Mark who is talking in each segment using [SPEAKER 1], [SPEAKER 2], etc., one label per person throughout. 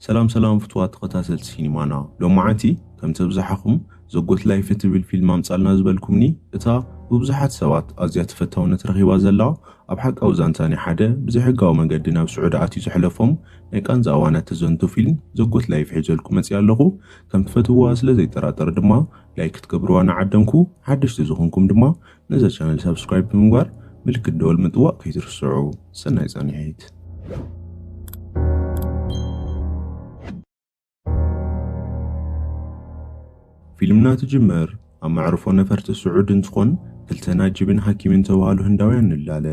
[SPEAKER 1] ሰላም ሰላም ፍትዋት ተኸታተልቲ ሲኒማና ሎማዓንቲ ከምቲ ብዝሓኹም ዘጎት ላይፍ እትብል ፊልም ኣምጻልና ዝበልኩምኒ እታ ብብዙሓት ሰባት ኣዝያ ተፈታውነት ረኺባ ዘላ ኣብ ሓቃዊ ዛንታ ናይ ሓደ ብዘይሕጋዊ መገዲ ናብ ስዑዲ ኣትዩ ዘሕለፎም ናይ ቃንዛ እዋናት ተዘንቱ ፊልም ዘጎት ላይፍ ሒዘልኩ መጽኣ ኣለኹ ከም ትፈትውዋ ስለ ዘይጠራጠር ድማ ላይክ ክትገብርዋ ንዓደምኩ ሓደሽቲ ዝኾንኩም ድማ ነዛ ቻነል ሳብስክራይብ ብምግባር ምልክት ደወል ምጥዋቕ ከይትርስዑ። ሰናይ ጻንሒት። ፊልምና ትጅመር ኣብ መዕርፎ ነፈርቲ ስዑድ እንትኾን ክልተ ናጅብን ሓኪምን ተባሃሉ ህንዳውያን ንላለ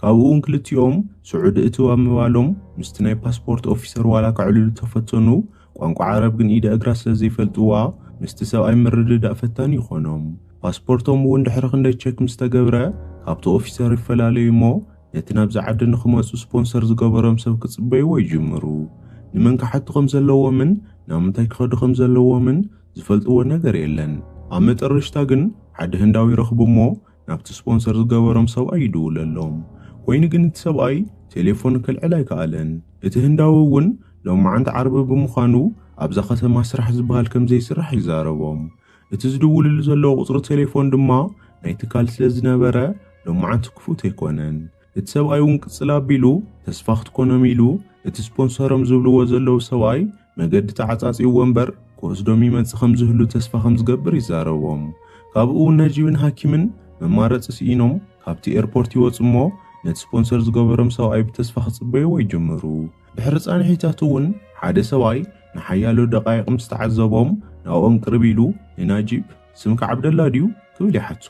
[SPEAKER 1] ካብኡ እውን ክልቲኦም ስዑድ እትው ኣብ ምባሎም ምስቲ ናይ ፓስፖርት ኦፊሰር ዋላ ከዕልሉ ተፈተኑ ቋንቋ ዓረብ ግን ኢደ እግራ ስለ ዘይፈልጥዋ ምስቲ ሰብኣይ ምርድዳእ ፈታኒ ይኾኖም። ፓስፖርቶም እውን ድሕሪ ክንደይ ቸክ ምስ ተገብረ ካብቲ ኦፊሰር ይፈላለዩ እሞ ነቲ ናብዚ ዓዲ ንኽመጹ ስፖንሰር ዝገበሮም ሰብ ክጽበይዎ ይጅምሩ። ንመን ክሓቱ ከም ዘለዎምን ናብ ምንታይ ክኸዱ ከም ዘለዎምን ዝፈልጥዎ ነገር የለን። ኣብ መጠረሽታ ግን ሓደ ህንዳዊ ይረኽቡ እሞ ናብቲ ስፖንሰር ዝገበሮም ሰብኣይ ይድውለሎም። ኮይኑ ግን እቲ ሰብኣይ ቴሌፎን ከልዕል ኣይከኣለን። እቲ ህንዳዊ እውን ሎማዓንቲ ዓርቢ ብምዃኑ ኣብዛ ከተማ ስራሕ ዝበሃል ከምዘይስራሕ ይዛረቦም። እቲ ዝድውልሉ ዘለዉ ቁፅሪ ቴሌፎን ድማ ናይ ትካል ስለዝነበረ ሎማዓንቲ ክፉት ኣይኮነን። እቲ ሰብኣይ እውን ቅፅል ኣቢሉ ተስፋ ክትኮኖም ኢሉ እቲ ስፖንሰሮም ዝብልዎ ዘለዉ ሰብኣይ መገዲ ተዓፃፂዩዎ እምበር ክወስዶም ይመፅእ ከምዝህሉ ተስፋ ከምዝገብር ይዛረቦም። ካብኡ እውን ነጂብን ሃኪምን መማረፂ ስኢኖም ካብቲ ኤርፖርት ይወፁ እሞ ነቲ ስፖንሰር ዝገበሮም ሰብኣይ ብተስፋ ክፅበይዎ ይጅምሩ። ድሕሪ ፃንሒታት እውን ሓደ ሰብኣይ ንሓያሎ ደቓይቕ ምስ ተዓዘቦም ናብኦም ቅርብ ኢሉ ንናጂብ ስምካ ዓብደላ ድዩ? ክብል ይሓቶ።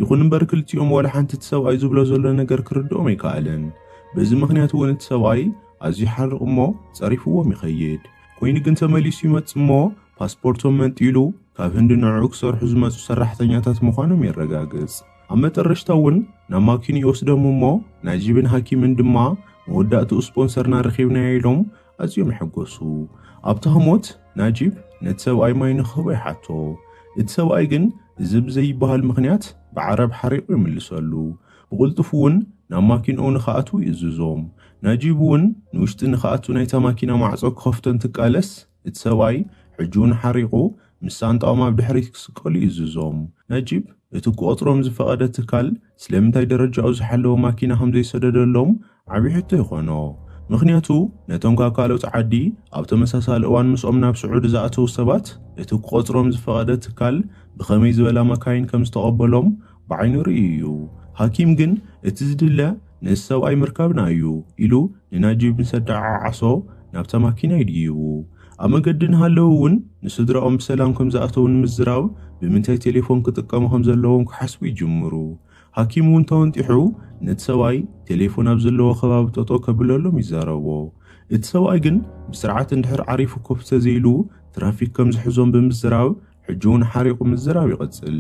[SPEAKER 1] ይኹን እምበር ክልቲኦም ዋላ ሓንቲ እቲ ሰብኣይ ዝብሎ ዘሎ ነገር ክርድኦም ኣይከኣለን። በዚ ምኽንያት እውን እቲ ሰብኣይ ኣዝዩ ይሓርቕ እሞ ጸሪፍዎም ይኸይድ። ኮይኑ ግን ተመሊሱ ይመጽእ እሞ ፓስፖርቶም መንጢሉ ካብ ህንዲ ንዕዑ ክሰርሑ ዝመጹ ሰራሕተኛታት ምዃኖም የረጋግጽ። ኣብ መጠረሽታ እውን ናብ ማኪኑ ይወስዶም እሞ ናጂብን ሃኪምን ድማ መወዳእትኡ ስፖንሰርና ረኺብናዮ ኢሎም ኣዝዮም ይሕጎሱ። ኣብቲ ህሞት ናጂብ ነቲ ሰብኣይ ማይ ንክህቦ ይሓቶ። እቲ ሰብኣይ ግን እዚ ብዘይብሃል ምኽንያት ብዓረብ ሓሪቑ ይምልሰሉ። ብቕልጡፍ እውን ናብ ማኪንኡ ንክኣትዉ ይእዝዞም። ናጂብ እውን ንውሽጢ ንክኣቱ ናይታ ማኪና ማዕጾ ክኸፍቶ እንትቃለስ እቲ ሰብኣይ ሕጂ እውን ሓሪቑ ምስ ሳንጣኦም ኣብ ድሕሪት ክስቀሉ ይእዝዞም። ናጂብ እቲ ክቖጽሮም ዝፈቐደ ትካል ስለምንታይ ደረጃኡ ዝሓለወ ማኪና ከም ዘይሰደደሎም ዓቢ ሕቶ ይኾኖ። ምኽንያቱ ነቶም ካብ ካልኦት ዓዲ ኣብ ተመሳሳሊ እዋን ምስኦም ናብ ስዑዲ ዝኣተዉ ሰባት እቲ ክቖጽሮም ዝፈቐደ ትካል ብኸመይ ዝበላ መካይን ከም ዝተቐበሎም ብዓይኑ ርእዩ እዩ። ሃኪም ግን እቲ ዝድለ ነዚ ሰብኣይ ምርካብና እዩ ኢሉ ንናጂብ ምስ ኣደዓዓሶ ናብታ ማኪና ይድይቡ። ኣብ መገዲ እናሃለዉ እውን ንስድራኦም ብሰላም ከም ዝኣተዉ ንምዝራብ ብምንታይ ቴሌፎን ክጥቀሙ ከም ዘለዎም ክሓስቡ ይጅምሩ። ሃኪም እውን ተወንጢሑ ነቲ ሰብኣይ ቴሌፎን ኣብ ዘለዎ ከባቢ ጠጦ ከብለሎም ይዛረቦ። እቲ ሰብኣይ ግን ብስርዓት እንድሕር ዓሪፉ ኮፍ ተዘይሉ ትራፊክ ከም ዝሕዞም ብምዝራብ ሕጂ እውን ሓሪቑ ምዝራብ ይቐጽል።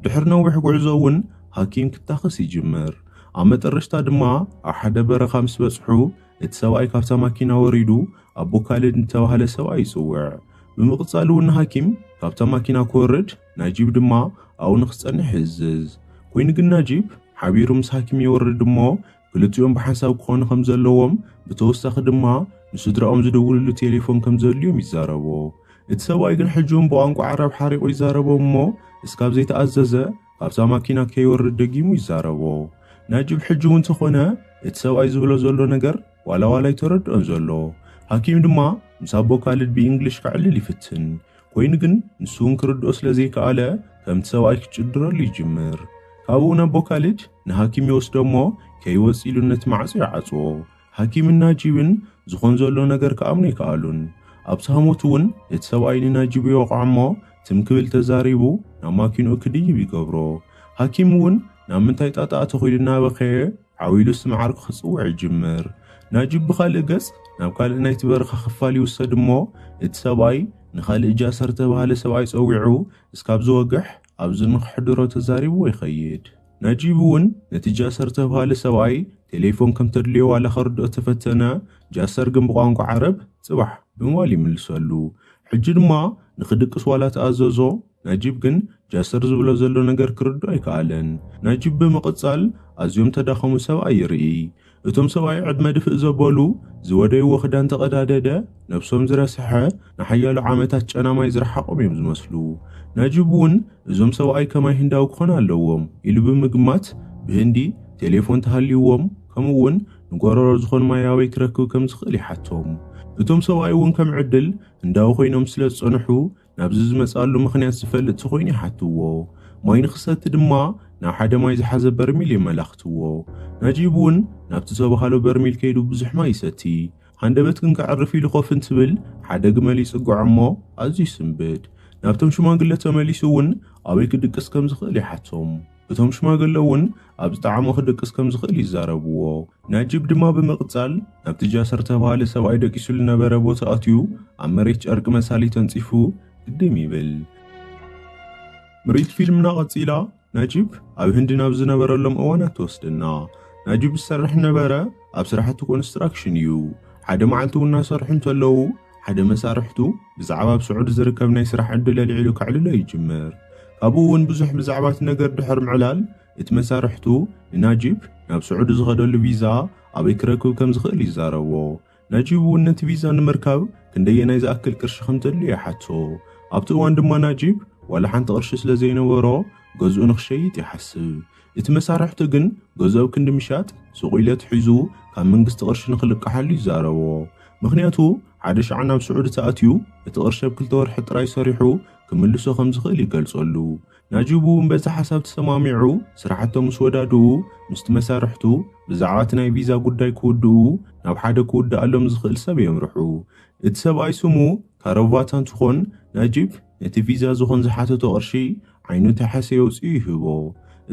[SPEAKER 1] ድሕሪ ነዊሕ ጉዕዞ እውን ሃኪም ክታኸስ ይጅምር። ኣብ መጠረሽታ ድማ ኣብ ሓደ በረኻ ምስ በጽሑ እቲ ሰብኣይ ካብታ ማኪና ወሪዱ ኣቦ ካልድ ንተባህለ ሰብኣይ ይጽውዕ። ብምቕጻል እውን ንሃኪም ካብታ ማኪና ክወርድ ናጂብ ድማ ኣብኡ ንክጸንሕ ይእዝዝ። ኮይኑ ግን ናጂብ ሓቢሩ ምስ ሃኪም ይወርድ እሞ ክልቲኦም ብሓንሳብ ክኾኑ ከም ዘለዎም ብተወሳኺ ድማ ንስድራኦም ዝደውልሉ ቴሌፎን ከም ዘድልዮም ይዛረቦ። እቲ ሰብኣይ ግን ሕጂ እውን ብቋንቋ ዓረብ ሓሪቑ ይዛረቦም እሞ እስካብ ዘይተኣዘዘ ኣብዛ ማኪና ከይወርድ ደጊሙ ይዛረቦ። ናጅብ ሕጂ እውን ተኾነ እቲ ሰብኣይ ዝብሎ ዘሎ ነገር ዋላ ዋላ ኣይተረድኦን ዘሎ። ሃኪም ድማ ምስ ኣቦ ካልድ ብኢንግሊሽ ከዕልል ይፍትን። ኮይኑ ግን ንሱ እውን ክርድኦ ስለ ዘይከኣለ ከምቲ ሰብኣይ ክጭድረሉ ይጅምር። ካብኡ ንኣቦ ካልድ ንሃኪም ይወስዶ እሞ ከይወጽእ ኢሉ ነቲ ማዕጾ ይዓጽዎ። ሃኪምን ናጂብን ዝኾን ዘሎ ነገር ክኣምኑ ኣይከኣሉን። ኣብ ሳሞት እውን እቲ ሰብኣይ ንናጂብ ይወቕዖ እሞ ትም ክብል ተዛሪቡ ናብ ማኪንኡ ክድይብ ይገብሮ። ሃኪም እውን ናብ ምንታይ ጣጣ ኣተኹ ኢሉ እናበኸየ ዓው ኢሉ ስም ዓርኩ ክጽውዕ ይጅምር። ናጂብ ብኻልእ ገጽ ናብ ካልእ ናይቲ በረኻ ክፋል ይውሰድ እሞ እቲ ሰብኣይ ንኻልእ ጃእሰር ዝተባህለ ሰብኣይ ጸዊዑ እስካብ ዝወግሕ ኣብዚ ንክሕድሮ ተዛሪብዎ ይኸይድ። ናጂብ እውን ነቲ ጃሰር ተብሃለ ሰብኣይ ቴሌፎን ከም ተድልዮ ዋላ ከርድኦ ተፈተነ፣ ጃሰር ግን ብቋንቋ ዓረብ ጽባሕ ብምባል ይምልሰሉ። ሕጂ ድማ ንክድቅስ ዋላ ተኣዘዞ፣ ናጂብ ግን ጃሰር ዝብሎ ዘሎ ነገር ክርድኦ ኣይከኣለን። ናጂብ ብምቕጻል ኣዝዮም ተዳኸሙ ሰብኣይ ይርኢ። እቶም ሰብኣይ ዕድመ ድፍእ ዘበሉ፣ ዝወደይዎ ክዳን ተቐዳደደ፣ ነብሶም ዝረስሐ፣ ንሓያሎ ዓመታት ጨና ማይ ዝረሓቖም እዮም ዝመስሉ። ናጂብ እውን እዞም ሰብኣይ ከማይ ህንዳዊ ክኾኑ ኣለዎም ኢሉ ብምግማት፣ ብህንዲ ቴሌፎን ተሃልይዎም፣ ከምኡ እውን ንጎረሮ ዝኾን ማይ ኣበይ ክረክብ ከም ዝኽእል ይሓቶም። እቶም ሰብኣይ እውን ከም ዕድል ህንዳዊ ኮይኖም ስለ ዝጸንሑ፣ ናብዚ ዝመጽኣሉ ምኽንያት ዝፈልጥ ተኾይኑ ይሓትዎ። ማይ ንክሰቲ ድማ ናብ ሓደ ማይ ዝሓዘ በርሚል የመላኽትዎ። ናጂብ እውን ናብቲ ዝተባህሎ በርሚል ከይዱ ብዙሕ ማይ ይሰቲ። ሃንደበት ግን ከዕርፍ ኢሉ ኮፍ እንትብል ሓደ ግመል ይጽግዖ እሞ ኣዝዩ ይስንብድ። ናብቶም ሽማግለ ተመሊሱ እውን ኣበይ ክድቅስ ከም ዝኽእል ይሓቶም። እቶም ሽማግለ እውን ኣብ ዝጠዓሞ ክድቅስ ከም ዝኽእል ይዛረብዎ። ናጂብ ድማ ብምቕጻል ናብቲ ጃስር እተባህለ ሰብኣይ ደቂሱ ዝነበረ ቦታ ኣትዩ ኣብ መሬት ጨርቂ መሳሊ ተንጺፉ ግድም ይብል። ምርኢት ፊልምና ቀጺላ ናጂብ ኣብ ህንዲ ናብ ዝነበረሎም እዋናት ትወስደና። ናጂብ ዝሰርሕ ዝነበረ ኣብ ስራሕቲ ኮንስትራክሽን እዩ። ሓደ መዓልቲ እውን እናሰርሑ እንተለዉ ሓደ መሳርሕቱ ብዛዕባ ኣብ ስዑድ ዝርከብ ናይ ስራሕ ዕድል ኣልዒሉ ከዕልሎ ይጅምር። ካብኡ እውን ብዙሕ ብዛዕባ እቲ ነገር ድሕር ምዕላል እቲ መሳርሕቱ ንናጂብ ናብ ስዑድ ዝኸደሉ ቪዛ ኣበይ ክረክብ ከም ዝኽእል ይዛረቦ። ናጂብ እውን ነቲ ቪዛ ንምርካብ ክንደየናይ ዝኣክል ቅርሺ ከም ዘድልዮ ይሓቶ። ኣብቲ እዋን ድማ ናጂብ ዋላ ሓንቲ ቅርሺ ስለ ዘይነበሮ ገዝኡ ንክሸይጥ ይሓስብ። እቲ መሳርሕቱ ግን ገዝኦ ክንዲ ምሻጥ ሱቕ ኢለት ሒዙ ካብ መንግስቲ ቅርሺ ንክልቃሓሉ ይዛረቦ። ምኽንያቱ ሓደ ሻዕ ናብ ስዑዲ ተኣትዩ እቲ ቅርሺ ኣብ ክልተ ወርሒ ጥራይ ሰሪሑ ክምልሶ ከም ዝኽእል ይገልጸሉ። ናጂብ እውን በዚ ሓሳብ ተሰማሚዑ ስራሕቶም ምስ ወዳድኡ ምስቲ መሳርሕቱ ብዛዕባ እቲ ናይ ቪዛ ጉዳይ ክውድኡ ናብ ሓደ ክውድኣሎም ዝኽእል ሰብ የምርሑ። እቲ ሰብኣይ ስሙ ካሮቫት ኣንትኾን ናጂብ ነቲ ቪዛ ዝኾን ዝሓተቶ ቅርሺ ዓይኑ ተሐሴ ኣውጺኡ ይህቦ።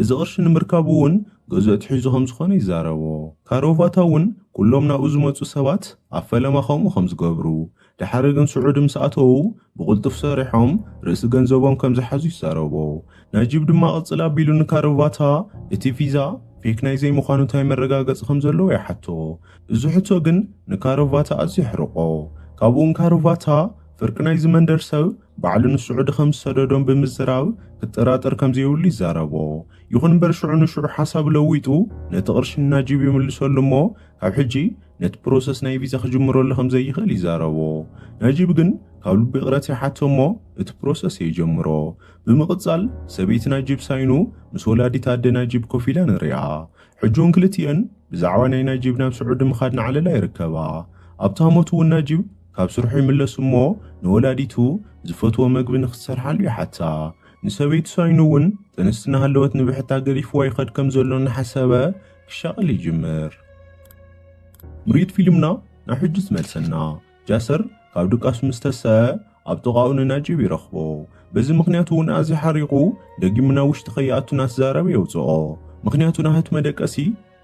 [SPEAKER 1] እዚ ቅርሺ ንምርካቡ እውን ገዝኡ ኣትሒዙ ከም ዝኾነ ይዛረቦ። ካሮቫታ እውን ኩሎም ናብኡ ዝመጹ ሰባት ኣብ ፈለማ ከምኡ ከም ዝገብሩ፣ ደሓር ግን ስዑዲ ምስ ኣተዉ ብቕልጡፍ ሰሪሖም ርእሲ ገንዘቦም ከም ዝሓዙ ይዛረቦ። ናጂብ ድማ ቅጽል ኣቢሉ ንካሮቫታ እቲ ቪዛ ፌክ ናይ ዘይምዃኑ እንታይ መረጋገጺ ከም ዘለዎ ይሓቶ። እዚ ሕቶ ግን ንካሮቫታ ኣዝዩ ኣሕርቖ። ካብኡ ንካሮቫታ ፍርቂ ናይዚ መንደር ሰብ ባዕሉ ንስዑዲ ከም ዝሰደዶም ብምዝራብ ክጠራጠር ከም ዘይብሉ ይዛረቦ። ይኹን እምበር ሽዑ ንሽዑ ሓሳቡ ለዊጡ ነቲ ቅርሺ ንናጂብ ይምልሰሉ እሞ ካብ ሕጂ ነቲ ፕሮሰስ ናይ ቪዛ ክጅምረሉ ከም ዘይኽእል ይዛረቦ። ናጂብ ግን ካብ ልቡ ይቕረት ይሓቶ እሞ እቲ ፕሮሰስ የጀምሮ። ብምቕጻል ሰበይቲ ናጂብ ሳይኑ ምስ ወላዲት ኣደ ናጂብ ኮፍ ኢላ ንሪኣ። ሕጂውን ክልቲኤን ብዛዕባ ናይ ናጂብ ናብ ስዑዲ ምኻድ ናዕለላ ይርከባ። ኣብቲ ሃሞት እውን ናጂብ ካብ ስርሑ ይምለስ እሞ ንወላዲቱ ዝፈትዎ መግቢ ንኽትሰርሓሉ ይሓታ። ንሰበይቱ ሳይኖ እውን ጥንስቲ እናሃለወት ንብሕታ ገዲፍዋ ይኸድ ከም ዘሎ እናሓሰበ ክሻቐል ይጅምር። ምርኢት ፊልምና ናብ ሕጂ ትመልሰና። ጃሰር ካብ ድቃሱ ምስ ተሰሀ ኣብ ጥቓኡ ንናጂብ ይረኽቦ። በዚ ምኽንያት እውን ኣዝዩ ሓሪቑ ደጊሙ ናብ ውሽጢ ከይኣቱ እናተዛረበ የውጽኦ። ምኽንያቱ ናህት መደቀሲ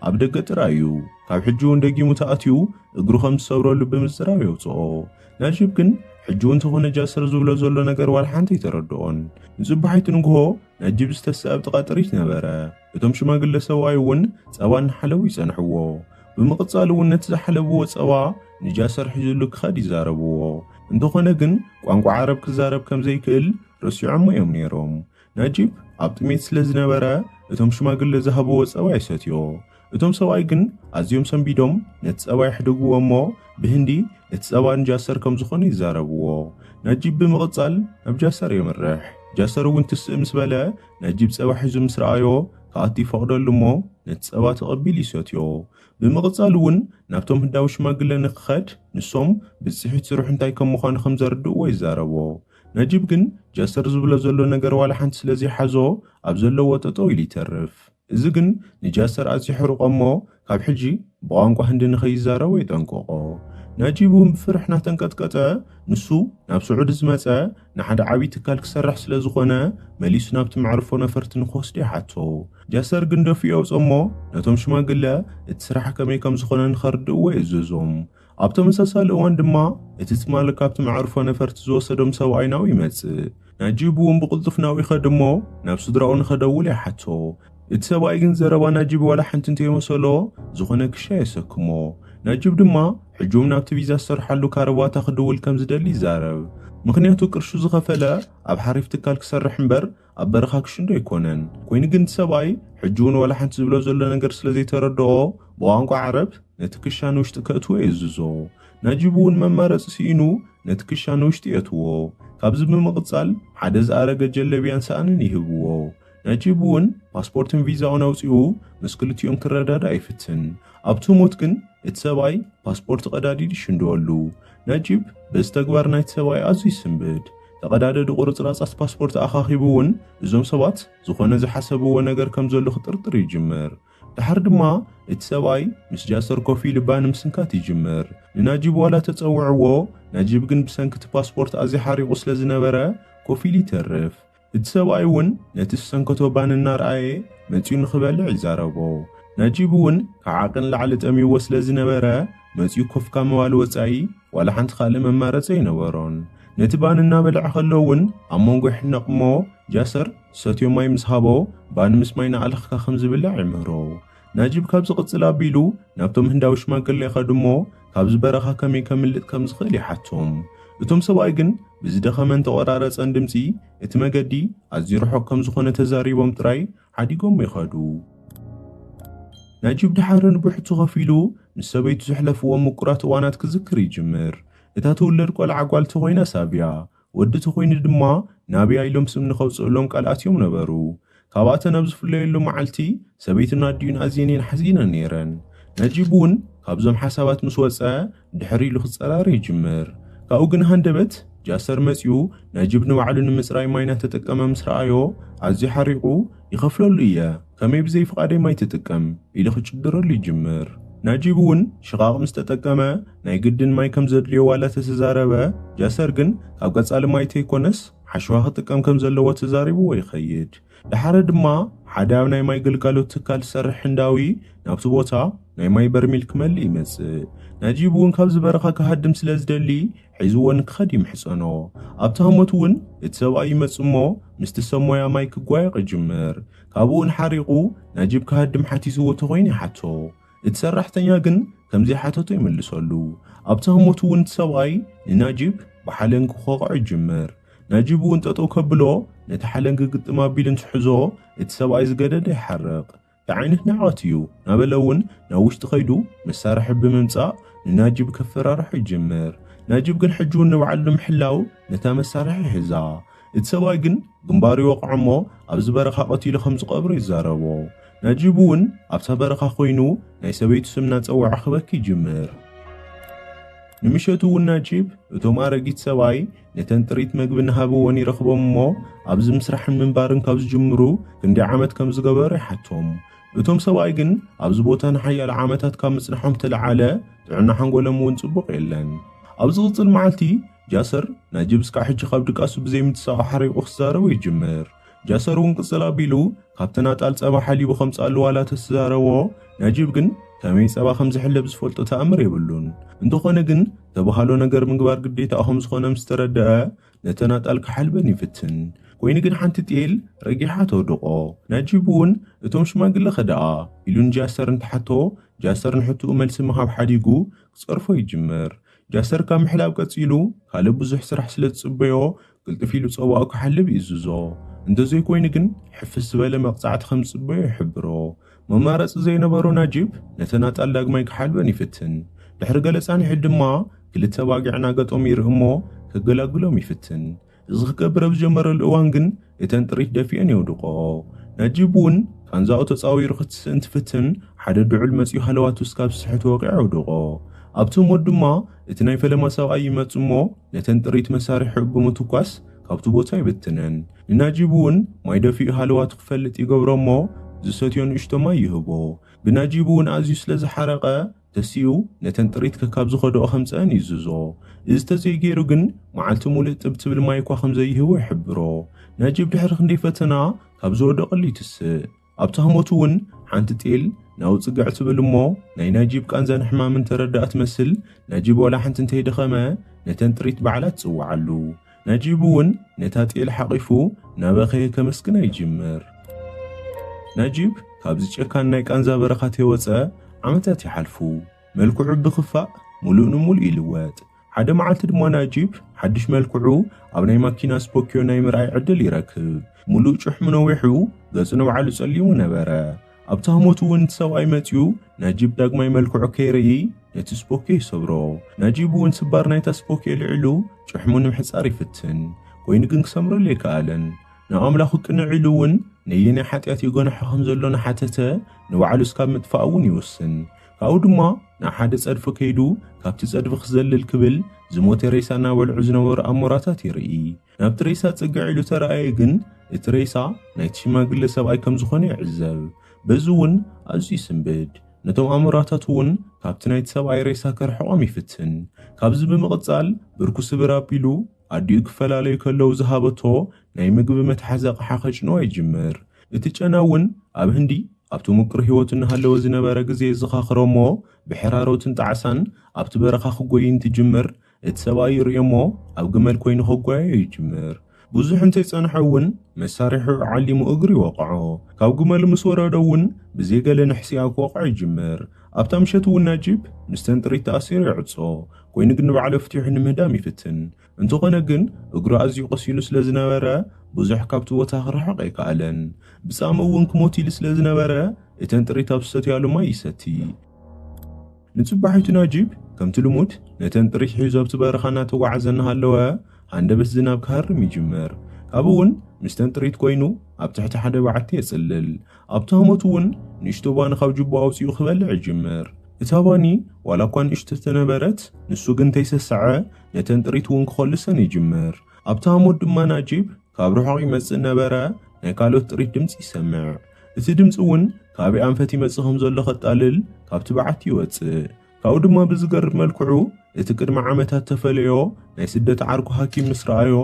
[SPEAKER 1] ኣብ ደገ ጥራይ እዩ። ካብ ሕጂ እውን ደጊሙ ተኣትዩ እግሩ ከም ዝሰብረሉ ብምጽራብ የውጽኦ። ናጂብ ግን ሕጂ እውን ተኾነ ጃስር ዝብሎ ዘሎ ነገር ዋላ ሓንቲ ኣይተረድኦን። ንጽባሒቱ ንግሆ ናጂብ ዝተስእ ኣብ ጥቓ ጥሪት ነበረ። እቶም ሽማግለ ሰብኣይ እውን ጸባ እናሓለቡ ይጸንሕዎ። ብምቕጻል እውን ነቲ ዝሓለብዎ ጸባ ንጃስር ሒዙሉ ክኸድ ይዛረብዎ። እንተኾነ ግን ቋንቋ ዓረብ ክዛረብ ከም ዘይክእል ረሲዖሞ እዮም ነይሮም። ነጂብ ኣብ ጥሜት ስለ ዝነበረ እቶም ሽማግለ ዝሃብዎ ጸባይ ሰትዮ። እቶም ሰብኣይ ግን ኣዝዮም ሰንቢዶም ነቲ ጸባ የሕድግዎ እሞ ብህንዲ እቲ ጸባ ንጃሰር ከም ዝኾነ ይዛረብዎ። ነጂብ ብምቕጻል ናብ ጃሰር የምርሕ። ጃሰር እውን ትስእ ምስ በለ ነጂብ ጸባ ሒዙ ምስ ረኣዮ ክኣቱ ይፈቕደሉ እሞ ነቲ ጸባ ተቐቢሉ ይሰትዮ። ብምቕጻል እውን ናብቶም ህንዳዊ ሽማግለ ንክኸድ ንሶም ብጽሒት ስርሑ እንታይ ከም ምዃኑ ከም ዘርድእዎ ይዛረቦ። ነጂብ ግን ጀሰር ዝብሎ ዘሎ ነገር ዋላ ሓንቲ ስለ ዘይሓዞ ኣብ ዘለዎ ጠጠው ኢሉ ይተርፍ። እዚ ግን ንጃሰር ኣዝዩ ኣሕርቆ እሞ ካብ ሕጂ ብቋንቋ ህንዲ ንከይዛረቦ የጠንቅቆ። ነጂብ እውን ብፍርሒ እናተንቀጥቀጠ ንሱ ናብ ስዑዲ ዝመጸ ንሓደ ዓብዪ ትካል ክሰርሕ ስለ ዝኾነ መሊሱ ናብቲ መዕርፎ ነፈርቲ ንክወስዶ ይሓቶ። ጃሰር ግን ደፊኡ የውጾ እሞ ነቶም ሽማግለ እቲ ስራሕ ከመይ ከም ዝኾነ ንከርድእዎ የእዘዞም። ኣብ ተመሳሳሊ እዋን ድማ እቲ ትማሊ ካብቲ መዕርፎ ነፈርቲ ዝወሰዶም ሰብኣይ ናብኡ ይመጽእ። ናጂብ እውን ብቕልጡፍ ናብኡ ይኸድ እሞ ናብ ስድራኡ ንኸደውል ይሓቶ። እቲ ሰብኣይ ግን ዘረባ ናጂብ ዋላ ሓንቲ እንተይመሰሎ ዝኾነ ክሻ የሰክሞ። ናጂብ ድማ ሕጂ እውን ናብቲ ቪዛ ዝሰርሓሉ ካረባታ ክድውል ከምዝደሊ ይዛረብ። ምኽንያቱ ቅርሹ ዝኸፈለ ኣብ ሓሪፍ ትካል ክሰርሕ እምበር ኣብ በረኻ ክሽንዶ ኣይኮነን ኮይኑ ግን ሰብኣይ ሕጂ እውን ዋላ ሓንቲ ዝብሎ ዘሎ ነገር ስለ ዘይተረድኦ ብቋንቋ ዓረብ ነቲ ክሻ ንውሽጢ ከእትዎ የእዝዞ ናጂብ እውን መማረፂ ስኢኑ ነቲ ክሻ ንውሽጢ የእትዎ ካብዚ ብምቕፃል ሓደ ዝኣረገ ጀለብያን ሳእንን ይህብዎ ናጂብ እውን ፓስፖርትን ቪዛኡን ኣውፂኡ ምስ ክልቲኦም ክረዳዳእ ይፍትን ኣብ ትሙት ግን እቲ ሰብኣይ ፓስፖርት ቐዳዲዲ ይሽንድወሉ ነጂብ በዚ ተግባር ናይቲ ሰብኣይ ኣዝዩ ይስምብድ። ተቐዳደዲ ቁርጽራጻት ፓስፖርት ኣኻኺቡ እውን እዞም ሰባት ዝኾነ ዝሓሰብዎ ነገር ከም ዘሎ ክጥርጥር ይጅምር። ደሓር ድማ እቲ ሰብኣይ ምስ ጃሰር ኮፍ ኢሉ ባኒ ምስንካት ይጅምር። ንናጂብ ዋላ ተጸውዕዎ፣ ናጂብ ግን ብሰንኪ እቲ ፓስፖርት ኣዝዩ ሓሪቑ ስለዝነበረ ኮፍ ኢሉ ይተርፍ። እቲ ሰብኣይ እውን ነቲ ዝሰንከቶ ባኒ እናርኣየ መጺኡ ንኽበልዕ ይዛረቦ። ናጂብ እውን ካብ ዓቕን ንላዕሊ ጠምዩዎ ስለ ዝነበረ መጺኡ ኮፍ ካብ ምባል ወጻኢ ዋላ ሓንቲ ካልእ መማረጺ ኣይነበሮን። ነቲ ባኒ እናበልዐ ከሎ እውን ኣብ መንጎ ይሕነቕ እሞ ጃሰር ዝሰትዮ ማይ ምስ ሃቦ ባኒ ምስ ማይ እናኣለኽካ ከም ዝብላዕ ይምህሮ። ናጂብ ካብዚ ቅጽል ኣቢሉ ናብቶም ህንዳዊ ሽማግለ ይኸድ እሞ ካብዚ በረኻ ከመይ ከምልጥ ከም ዝኽእል ይሓቶም። እቶም ሰብኣይ ግን ብዝደኸመን ተቖራረጸን ድምጺ እቲ መገዲ ኣዝዩ ርሑቕ ከም ዝኾነ ተዛሪቦም ጥራይ ሓዲጎሞ ይኸዱ። ናጂብ ድሓር ንብሕቱ ከፊሉ ምስ ሰበይቱ ዘሕለፍዎም ምቁራት እዋናት ክዝክር ይጅምር። እታ ትውለድ ቆልዓ ጓል ተኾይና ሳብያ ወዲ ተኾይኑ ድማ ናብያ ኢሎም ስም ንኸውፅእሎም ቃል ኣትዮም ነበሩ። ካብኣተን ኣብ ዝፍለየሉ መዓልቲ ሰበይቱን ኣዲኡን ኣዝየን እየን ሓዚነን ነይረን። ነጂብ እውን ካብዞም ሓሳባት ምስ ወፀ ድሕር ኢሉ ክፀራረ ይጅምር። ካብኡ ግን ሃንደበት ጃሰር መፂኡ ነጂብ ንባዕሉ ንምፅራይ ማይ ናተጠቀመ ምስ ረኣዮ ኣዝዩ ሓሪቑ ይኸፍለሉ እየ፣ ከመይ ብዘይ ፍቓደይ ማይ ትጥቀም? ኢሉ ክጭድረሉ ይጅምር። ናጂብ እውን ሽቓቕ ምስ ተጠቀመ ናይ ግድን ማይ ከም ዘድልዮ ዋላ ተተዛረበ፣ ጃሰር ግን ካብ ቀጻሊ ማይ ተይኮነስ ሓሸዋ ክጥቀም ከም ዘለዎ ተዛሪብዎ ይኸይድ። ደሓረ ድማ ሓደ ኣብ ናይ ማይ ግልጋሎት ትካል ዝሰርሕ ህንዳዊ ናብቲ ቦታ ናይ ማይ በርሚል ክመልእ ይመጽእ። ናጂብ እውን ካብዚ በረኻ ክሃድም ስለ ዝደሊ ሒዝዎ ንክኸድ ይምሕጸኖ። ኣብቲ ሃሞት እውን እቲ ሰብኣይ ይመጽእ እሞ ምስቲ ሰብ ሞያ ማይ ክጓየቕ ይጅምር። ካብኡውን ሓሪቑ ናጂብ ክሃድም ሓቲትዎ ተኾይኑ ይሓቶ። እቲ ሰራሕተኛ ግን ከምዘይሓተቶ ይምልሰሉ። ኣብቲ ህሞት እውን እቲ ሰብኣይ ንናጂብ ብሓለንጊ ክወቕዖ ይጅምር። ናጂብ እውን ጠጠው ከብሎ ነቲ ሓለንጊ ግጥም ኣቢሉ እንትሕዞ እቲ ሰብኣይ ዝገደደ ይሓርቕ። እንታይ ዓይነት ንዕቐት እዩ? ናበለ እውን ናብ ውሽጢ ከይዱ መሳርሒ ብምምጻእ ንናጂብ ከፈራርሖ ይጅምር። ናጂብ ግን ሕጂውን ንባዕሉ ንምሕላው ነታ መሳርሒ ይሕዛ። እቲ ሰብኣይ ግን ግንባሩ ይወቕዖ እሞ ኣብዚ በረኻ ቀቲሉ ከም ዝቐብሮ ይዛረቦ። ናጂብ እውን ኣብታ በረኻ ኮይኑ ናይ ሰበይቱ ስም እናጸወዐ ክበኪ ይጅምር። ንምሸቱ እውን ናጂብ እቶም ኣረጊት ሰብኣይ ነተን ጥሪት መግቢ እናሃብዎን ይረኽቦም እሞ ኣብዚ ምስራሕን ምንባርን ካብ ዝጅምሩ ክንደይ ዓመት ከም ዝገበሩ ይሓቶም። እቶም ሰብኣይ ግን ኣብዚ ቦታ ንሓያለ ዓመታት ካብ ምጽንሖም ተለዓለ ጥዕና ሓንጎሎም እውን ጽቡቕ የለን። ኣብ ዝቕጽል መዓልቲ ጃሰር ናጂብ እስካዕ ሕጂ ካብ ድቃሱ ብዘይምትሳቕ ሓሪቑ ክዛረቦ ይጅምር። ጃሰር እውን ቅጽል ኣቢሉ ካብቲ ናጣል ጸባ ሓሊቡ ከምጽኣሉ ዋላ ተስዛረቦ ናጂብ ግን ከመይ ጸባ ከምዝሕለብ ዝፈልጦ ተኣምር የብሉን። እንተኾነ ግን ተባሃሎ ነገር ምግባር ግዴታኡ ከምዝኾነ ምስተረደኣ ነተ ናጣል ክሓልበን ይፍትን። ኮይኑ ግን ሓንቲ ጤል ረጊሓ ተውድቖ። ናጂብ እውን እቶም ሽማግለ ከደኣ ኢሉ ንጃሰር እንትሓቶ ጃሰር ንሕትኡ መልሲ ምሃብ ሓዲጉ ክጸርፎ ይጅምር። ጃሰር ካብ ምሕላብ ቀጺሉ ካልእ ብዙሕ ስራሕ ስለ ዝጽበዮ ቅልጥፍ ኢሉ ጸዋኡ ክሓልብ ይእዝዞ። እንተዘይኮይኑ ግን ሕፍስ ዝበለ መቕጻዕቲ ከም ዝጽበዮ ይሕብሮ። መማረጺ ዘይነበሮ ናጂብ ነተን ኣጣል ዳግማይ ክሓልበን ይፍትን። ድሕሪ ገለ ጻንሒት ድማ ክልተ ኣባጊዕ እናገጠሙ ይርኢ እሞ ከገላግሎም ይፍትን። እዚ ክገብር ኣብ ዝጀመረሉ እዋን ግን እተን ጥሪት ደፊኦን የውድቆ። ናጂብ እውን ቃንዛኡ ተጻዊሩ ክትስእ እንትፍትን ሓደ ድዑል መጺኡ ሃለዋቱ እስካብ ዝስሕት ወቂዑ ኣውድቆ። ኣብቲ ሞት ድማ እቲ ናይ ፈለማ ሰብኣይ ይመጽ እሞ ነተን ጥሪት መሳርሒኡ ብምትኳስ ካብቲ ቦታ ይብትነን። ንናጂብ እውን ማይ ደፊኡ ሃለዋቱ ክፈልጥ ይገብሮ እሞ ዝሰትዮ ንእሽቶ ማይ ይህቦ። ብናጂብ እውን ኣዝዩ ስለ ዝሓረቐ ተሲኡ ነተን ጥሪት ከካብ ዝኸድኦ ከምጽኣን ይእዝዞ። እዚ ተዘይገይሩ ግን መዓልቲ ሙሉእ ጥብ ትብል ማይ'ኳ ከምዘይህቦ ይሕብሮ። ናጂብ ድሕሪ ክንደይ ፈተና ካብ ዝወደቐሉ ይትስእ። ኣብቲ ህሞት'ውን ሓንቲ ጤል ናው ጽግዕ ትብል እሞ ናይ ናጂብ ቃንዛን ሕማምን ተረድኣ ትመስል ናጂብ ዋላ ሓንቲ እንተይደኸመ ነተን ጥሪት ባዕላ ትጽውዓሉ። ነጂቡ እውን ነታ ጤል ሓቒፉ እናበኸየ ከመስግና ይጅምር። ነጂብ ካብዚ ጨካን ናይ ቃንዛ በረኻ ተይወጸ ዓመታት ይሓልፉ። መልክዑ ብኽፋእ ሙሉእ ንሙሉእ ይልወጥ። ሓደ መዓልቲ ድማ ናጂብ ሓድሽ መልክዑ ኣብ ናይ ማኪና ስፖኪዮ ናይ ምርኣይ ዕድል ይረክብ። ሙሉእ ጭሕሙ ነዊሑ ገጹ ንባዕሉ ጸሊሙ ነበረ። ኣብቲ ሃሞት እውን እቲ ሰብኣይ መጺኡ ናጂብ ዳግማይ መልክዑ ከይርኢ ነቲ ስፖኬ ይሰብሮ። ናጂብ እውን ስባር ናይታ ስፖኬ ኣልዒሉ ጭሕሙ ንምሕጻር ይፍትን። ኮይኑ ግን ክሰምረሉ ኣይከኣለን። ናብ ኣምላኹ ቅንዕ ኢሉ እውን ነየናይ ሓጢኣት የጎነሖ ከም ዘሎ እናሓተተ ንባዕሉ እስካብ ምጥፋእ እውን ይውስን። ካብኡ ድማ ናብ ሓደ ጸድፊ ከይዱ ካብቲ ጸድፊ ክዘልል ክብል ዝሞተ ሬሳ እናበልዑ ዝነበሩ ኣሞራታት ይርኢ። ናብቲ ሬሳ ጽግዕ ኢሉ ተራእየ ግን እቲ ሬሳ ናይቲ ሽማግለ ሰብኣይ ከም ዝኾነ ይዕዘብ። በዚ እውን ኣዝዩ ይስንብድ። ነቶም ኣሞራታት እውን ካብቲ ናይቲ ሰብኣይ ሬሳ ከርሕቖም ይፍትን። ካብዚ ብምቕጻል ብርኩ ስብር ኣቢሉ ኣዲኡ ክፈላለዩ ከለዉ ዝሃበቶ ናይ ምግቢ መትሓዚ ኣቕሓ ከጭንዋ ይጅምር። እቲ ጨና እውን ኣብ ህንዲ ኣብቲ ምቁር ህይወቱ እናሃለወ ዝነበረ ግዜ የዘኻኽሮ እሞ ብሕራሮትን ጣዕሳን ኣብቲ በረኻ ክጎይይ እንትጅምር እቲ ሰብኣይ ይርእዮ እሞ ኣብ ግመል ኮይኑ ክጓየዮ ይጅምር። ብዙሕ እንተይጸንሐ እውን መሳርሒዑ ዓሊሙ እግሩ ይወቕዖ። ካብ ግመሉ ምስ ወረደ እውን ብዘይ ገለ ንሕስያ ክወቕዖ ይጅምር። ኣብታ ምሸት እውን ናጂብ ምስተን ጥሪት ተኣሲሩ ይዕጾ። ኮይኑ ግን ንባዕሉ ኣፍቲሑ ንምህዳም ይፍትን። እንተኾነ ግን እግሩ ኣዝዩ ቆሲሉ ስለ ዝነበረ ብዙሕ ካብቲ ቦታ ክርሕቕ ኣይከኣለን። ብጻምእ እውን ክሞት ኢሉ ስለ ዝነበረ እተን ጥሪት ኣብ ዝሰትያሉ ማይ ይሰቲ። ንጽባሒቱ ናጂብ ከምቲ ልሙድ ነተን ጥሪት ሒዙ ኣብቲ በረኻ እናተጓዓዘ እናሃለወ ሃንደበት ዝናብ ክሃርም ይጅምር። ካብኡ እውን ምስተን ጥሪት ኮይኑ ኣብ ትሕቲ ሓደ በዓቲ የጽልል። ኣብቲ ሃሞት እውን ንእሽቶ ባኒ ካብ ጅቦ ኣውጺኡ ክበልዕ ይጅምር። እታ ባኒ ዋላ እኳ ንእሽቶ ተነበረት ንሱ ግን ተይሰሰዐ ነተን ጥሪት እውን ክኾልሰን ይጅምር። ኣብቲ ሃሞት ድማ ናጂብ ካብ ርሑቕ ይመጽእ እናበረ ናይ ካልኦት ጥሪት ድምጺ ይሰምዕ። እቲ ድምጺ እውን ካበይ ኣንፈት ይመጽእ ከም ዘሎ ከጣልል ካብቲ በዓቲ ይወጽእ። ካብኡ ድማ ብዝገርም መልክዑ እቲ ቅድሚ ዓመታት ተፈለዮ ናይ ስደት ዓርኩ ሃኪም ምስ ረኣዮ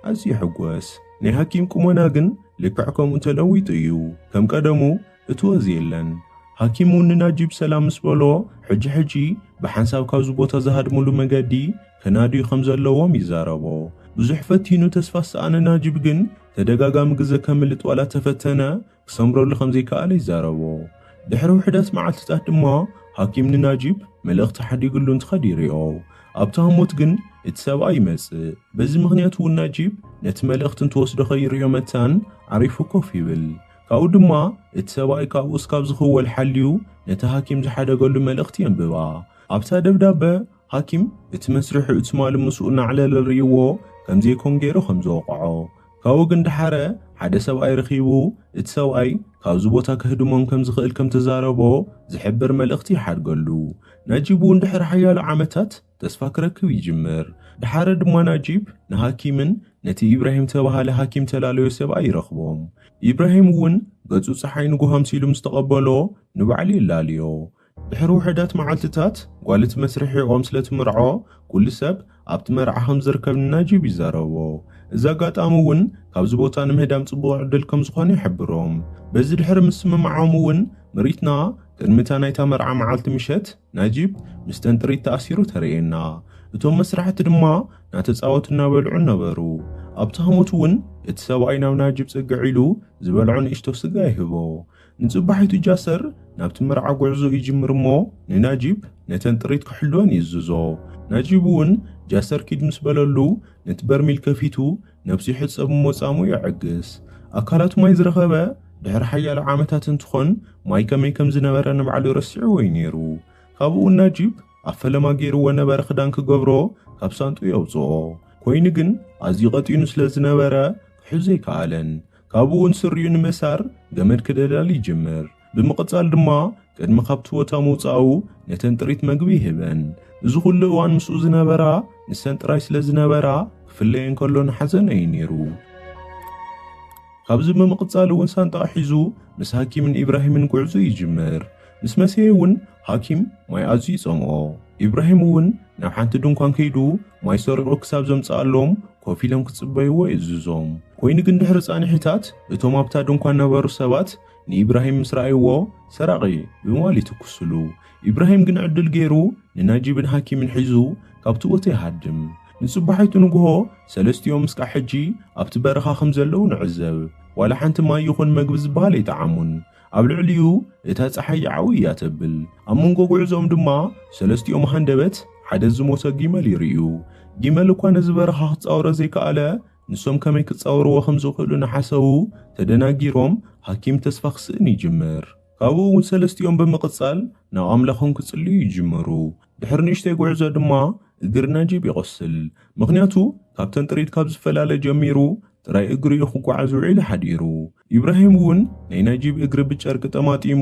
[SPEAKER 1] ኣዝዩ ይሕጎስ። ናይ ሃኪም ቁመና ግን ልክዕ ከምኡ ተለዊጡ እዩ። ከም ቀደሙ እቲ ወዝ የለን። ሃኪም እውን ንናጂብ ሰላም ምስ በሎ ሕጂ ሕጂ ብሓንሳብ ካብዚ ቦታ ዝሃድምሉ መገዲ ከናድዩ ከም ዘለዎም ይዛረቦ። ብዙሕ ፈቲኑ ተስፋ ዝሰኣነ ናጂብ ግን ተደጋጋሚ ግዘ ከምልጥ ዋላ ተፈተነ ክሰምረሉ ከምዘይከኣለ ይዛረቦ። ድሕሪ ውሕዳት መዓልቲታት ድማ ሃኪም ንናጂብ መልእኽቲ ሓዲግሉ እንትኸድ ይሪኦ። ኣብቲ ሃሞት ግን እቲ ሰብኣይ ይመፅእ። በዚ ምኽንያት እውን ናጂብ ነቲ መልእኽቲ እንትወስዶ ከይሪኦ መታን ዓሪፉ ኮፍ ይብል። ካብኡ ድማ እቲ ሰብኣይ ካብኡ እስካብ ዝኽወል ሓልዩ ነቲ ሃኪም ዝሓደገሉ መልእኽቲ የንብባ። ኣብታ ደብዳበ ሃኪም እቲ መስርሕኡ ትማሊ ምስኡ እናዕለለ ርእይዎ ከምዘይኮን ገይሩ ከምዝወቕዖ ካብኡ ግን ደሓረ ሓደ ሰብኣይ ረኺቡ እቲ ሰብኣይ ካብዚ ቦታ ከህድሞም ከምዝኽእል ከምተዛረቦ ዝሕብር መልእኽቲ ይሓድገሉ። ናጂብ'ውን ድሕሪ ሓያሎ ዓመታት ተስፋ ክረክብ ይጅምር። ደሓረ ድማ ናጂብ ንሃኪምን ነቲ ኢብራሂም ዝተባህለ ሃኪም ተላለዮ ሰብኣይ ይረኽቦም። ኢብራሂም'ውን ገጹ ጸሓይ ንጉሆ ኣምሲሉ ምስተቐበሎ ንባዕሉ የላልዮ። ድሕሪ ውሑዳት መዓልትታት ጓልት መስርሒ ኦም ስለ ትምርዖ ኩሉ ሰብ ኣብቲ መርዓ ከም ዝርከብ ንናጂብ ይዛረቦ። እዚ ኣጋጣሚ እውን ካብዚ ቦታ ንምህዳም ጽቡቕ ዕድል ከም ዝኾነ ይሕብሮም። በዚ ድሕሪ ምስምማዖም እውን ምርኢትና ቅድሚ እታ ናይታ መርዓ መዓልቲ ምሸት ናጂብ ምስተን ጥሪት ተኣሲሩ ተርእየና። እቶም መስራሕቲ ድማ ናተጻወቱ እናበልዑን ነበሩ። ኣብቲ ሃሞት እውን እቲ ሰብኣይ ናብ ናጂብ ጽግዕ ኢሉ ዝበልዖ ንእሽቶ ስጋ ይህቦ። ንጽባሒቱ ጃሰር ናብቲ መርዓ ጉዕዞ ይጅምር እሞ ንናጂብ ነተን ጥሪት ክሕልወን ይእዝዞ። ናጂብ እውን ጃሰር ኪድ ምስ በለሉ ነቲ በርሚል ከፊቱ ነብሱ ይሕጸብ እሞ ጻምኡ የዐግስ። ኣካላቱ ማይ ዝረኸበ ድሕሪ ሓያሎ ዓመታት እንትኾን ማይ ከመይ ከም ዝነበረ ንባዕሉ ረሲዕዎ እዩ ነይሩ። ካብኡ ናጂብ ኣብ ፈለማ ገይርዎ ነበረ ክዳን ክገብሮ ካብ ሳንጥኡ የውጽኦ። ኮይኑ ግን ኣዝዩ ቀጢኑ ስለ ዝነበረ ክሕዞ ኣይከኣለን። ካብኡውን ስሪኡ ንምእሳር ገመድ ክደላሊ ይጅምር። ብምቕጻል ድማ ቅድሚ ካብቲ ቦታ ምውጻኡ ነተን ጥሪት መግቢ ይህበን። እዚ ኩሉ እዋን ምስኡ ዝነበራ ንሰን ጥራይ ስለ ዝነበራ ክፍለየን ከሎ ንሓዘን እዩ ነይሩ። ካብዚ ብምቕጻል እውን ሳንጣ ሒዙ ምስ ሃኪምን ኢብራሂምን ጉዕዞ ይጅምር። ምስ መሰየ እውን ሃኪም ማይ ኣዝዩ ይጸምኦ። ኢብራሂም እውን ናብ ሓንቲ ድንኳን ከይዱ ማይ ሰሪቑ ክሳብ ዘምጽኣሎም ኮፍ ኢሎም ክጽበይዎ የእዝዞም። ኮይኑ ግን ድሕሪ ጻንሒታት እቶም ኣብታ ድንኳን ነበሩ ሰባት ንኢብራሂም ምስ ረኣይዎ ሰራቒ ብምባል ይትኩስሉ። ኢብራሂም ግን ዕድል ገይሩ ንናጂብን ሃኪምን ሒዙ ካብቲ ቦታ ይሃድም። ንጽባሒቱ ንግሆ ሰለስቲኦም እስካዕ ሕጂ ኣብቲ በረኻ ከም ዘለዉ ንዕዘብ። ዋላ ሓንቲ ማይ ይኹን መግቢ ዝበሃል ኣይጠዓሙን። ኣብ ልዕሊኡ እታ ጸሓይ ይዓው እያ ተብል። ኣብ መንጎ ጉዕዞኦም ድማ ሰለስቲኦም ሃንደበት ሓደ ዝሞተ ጊመል ይርእዩ። ጊመል እኳ ነዚ በረኻ ክጻወሮ ዘይከኣለ ንሶም ከመይ ክጻወርዎ ከም ዝኽእሉ እናሓሰቡ ተደናጊሮም ሃኪም ተስፋ ክስእን ይጅምር። ካብኡ እውን ሰለስቲኦም ብምቕጻል ናብ ኣምላኾም ክጽልዩ ይጅምሩ። ድሕሪ ንእሽተይ ጉዕዞ ድማ እግሪ ነጂብ ይቖስል። ምኽንያቱ ካብተን ጥሪት ካብ ዝፈላለ ጀሚሩ ጥራይ እግሩ እዩ ክጓዓዝ ውዒሉ ሓዲሩ። ኢብራሂም እውን ናይ ናጂብ እግሪ ብጨርቂ ጠማጢሙ